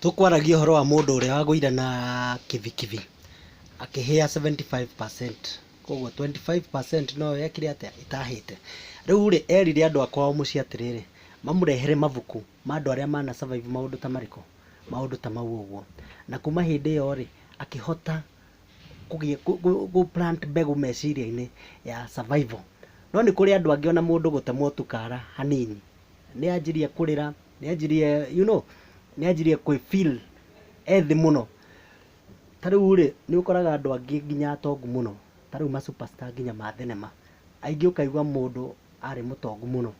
Tũkwaragia ũhoro wa mũndũ ũrĩa wagũire na kibikibi akĩhĩa seventy five percent. Kwoguo twenty five percent noyo yekire atĩa? ĩtahĩte. Rĩu rĩ, erire andũ a kwao mũciĩ atĩrĩrĩ, mamũrehere mabuku ma andũ arĩa mana survive maũndũ ta marĩkũ? Maũndũ ta mau ũguo. Na kuma hĩndĩ ĩyo rĩ, akĩhota kũgĩa gũ plant mbegũ meciria-inĩ ya survival. No nĩ kũrĩ andũ angĩ ona mũndũ gũtemwo tu kara hanini, nĩ anjirie kũrĩra. nĩanjirie you know nĩanjirie kwĩ feel e thĩ mũno ta rĩu rĩ nĩ ũkoraga andũ angĩ nginya atongu mũno ta rĩu ma superstar nginya ma thenema aingĩ ũkaigua mũndũ arĩ mũtongu mũno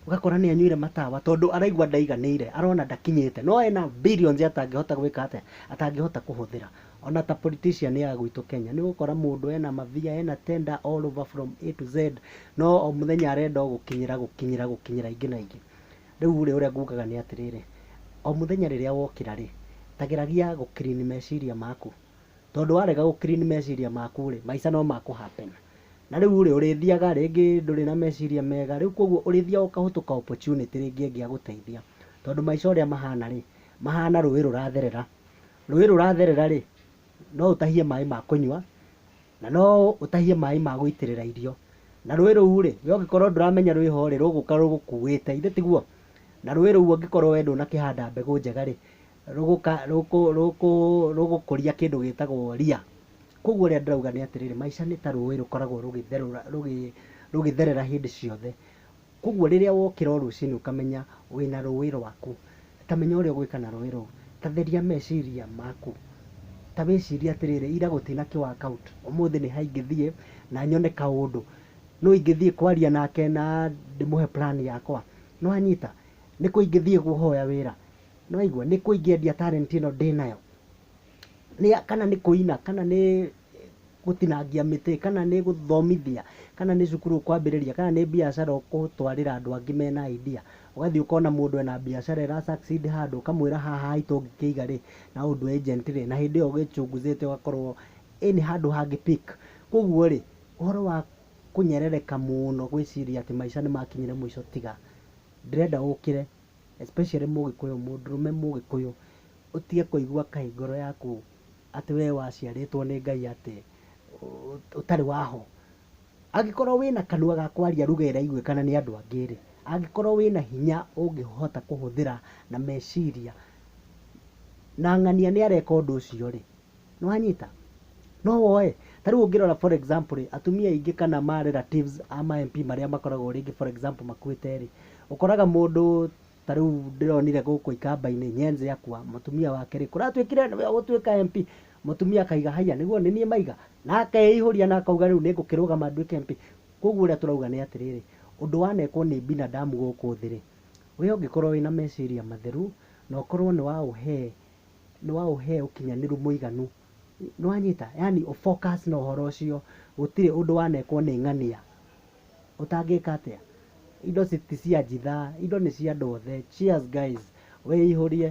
ũgakora nĩ anyuire matawa tondũ araigua ndaiganĩire arona ndakinyĩte no ena billions atangĩhota gwĩka atĩa atangĩhota kũhũthĩra ona ta politician ya gwitũ Kenya nĩ ũgũkora mũndũ ena mabia ena tender all over from A to Z no o mũthenya arenda o gũkinyĩra gũkinyĩra gũkinyĩra aingĩ na aingĩ Rĩu-rĩ, ũrĩa ngugaga nĩ atĩrĩrĩ, o mũthenya rĩrĩa wokĩra-rĩ, ta geragia gũ clean meciria maku. Tondũ warega gũ clean meciria maku-rĩ, maica no makũ happen. Na rĩu-rĩ, ũrĩthiaga rĩngĩ ndũrĩ na meciria mega, rĩu kuoguo ũrĩthiaga ũkahũtũ ka opportunity rĩngĩ ĩngĩagũteithia. Tondũ maica ũrĩa mahana-rĩ, mahana rũĩ rũratherera. Rũĩ rũratherera-rĩ, no ũtahie maĩ ma kũnyua, na no ũtahie maaĩ ma gũitĩrĩra irio, na rũĩ rũu-rĩ, we ũngĩkorwo ndũramenya rwĩ ho-rĩ, rũgũka rũgũkuĩte, ithe tiguo? Na rũĩ rũu ũngĩkorwo we ndũnakĩhanda mbegũ njega-rĩ, rũgũka rũgũkũria kĩndũ gĩtagwo ria. Kuoguo ũrĩa ndĩrauga nĩ atĩrĩrĩ, maica nĩ ta rũĩ rũkoragwo rũgĩtherũra rũgĩtherera hĩndĩ ciothe. Kwoguo rĩrĩa wokĩra o rũcinĩ ũkamenya wĩna rũĩ rwaku, ta menya ũrĩa ũgwĩka na rũĩ rũu. Ta theria meciria maku. Ta wĩcirie atĩrĩrĩ, ira gũtina kĩ work out, ũmũthĩ nĩ ha ingĩthiĩ na nyone kaũndũ. Nũ ingĩthiĩ kwaria nake na ndĩmũhe plan yakwa? Nĩ wanyita? Nĩ kũ ingĩthiĩ kũhoya wĩra? Nĩ waigua? Nĩ kũ ingĩendia talent ĩno ndĩ nayo? kana nĩ kũina, kana nĩ gũtinangia mĩtĩ, kana nĩ gũthomithia, kana nĩ cukuru ũkwambĩrĩria, kana nĩ mbiacara ũgũtwarĩra andũ angĩ mena idea. Ũgathiĩ ũkona mũndũ ena mbiacara ĩra succeed handũ, ũkamwĩra haha haitũ ũngĩkĩiga rĩ, na ũndũ agent rĩ, na hĩndĩ ĩyo wĩ chunguzĩte ũgakorwo ĩni handũ hangĩ pick. Kwoguo rĩ, ũhoro wa kũnyerereka mũno gwĩciria atĩ maica nĩ makinyire mũico tiga. Ndĩrenda ũkĩre especially mũgĩkũyũ, mũndũrũme mũgĩkũyũ, ũtige kũigua kaĩ ngoro yaku atĩ we waciarĩtwo nĩ Ngai atĩ ũtarĩ wa ho. Angĩkorwo wĩna kanua ga kwaria ruga ĩraiguĩka na nĩ andũ angĩ rĩ, angĩkorwo wĩna hinya ũngĩhota kũhũthĩra na meciria na ng'ania nĩ areka ũndũ ũcio rĩ, Nĩwanyita? No woe? Ta rĩu ũngĩrora for example rĩ, atumia aingĩ kana ma relatives a ma MP marĩa makoragwo rĩngĩ for example makuĩte rĩ, ũkoraga mũndũ ta rĩu ndĩronire gũkũ ikamba-inĩ Nyenze akua, mũtumia wake rĩ, kũratuĩkire nĩwe ũgũtuĩka MP, mũtumia akaiga haiya nĩguo nĩ niĩ maiga? Na akeĩihũria na akauga rĩu nĩ ngũkĩrũgama nduĩke MP. Kũguo ũrĩa tũrauga nĩ atĩrĩrĩ, ũndũ wanekwo nĩ binadamu gũkũ thĩ rĩ, we ũngĩkorwo wĩna meciria matheru, na ũkorwo nĩ waũhe no ũhe ũkinyanĩru mũiganu. Nĩ wanyita? Yaani ũ focus na ũhoro ũcio, gũtirĩ ũndũ wanekwo nĩ ng'ania ũtangĩka atĩa. Indo ti cia njithaa, indo nĩ cia andũ othe. Cheers guys, wĩihũrie.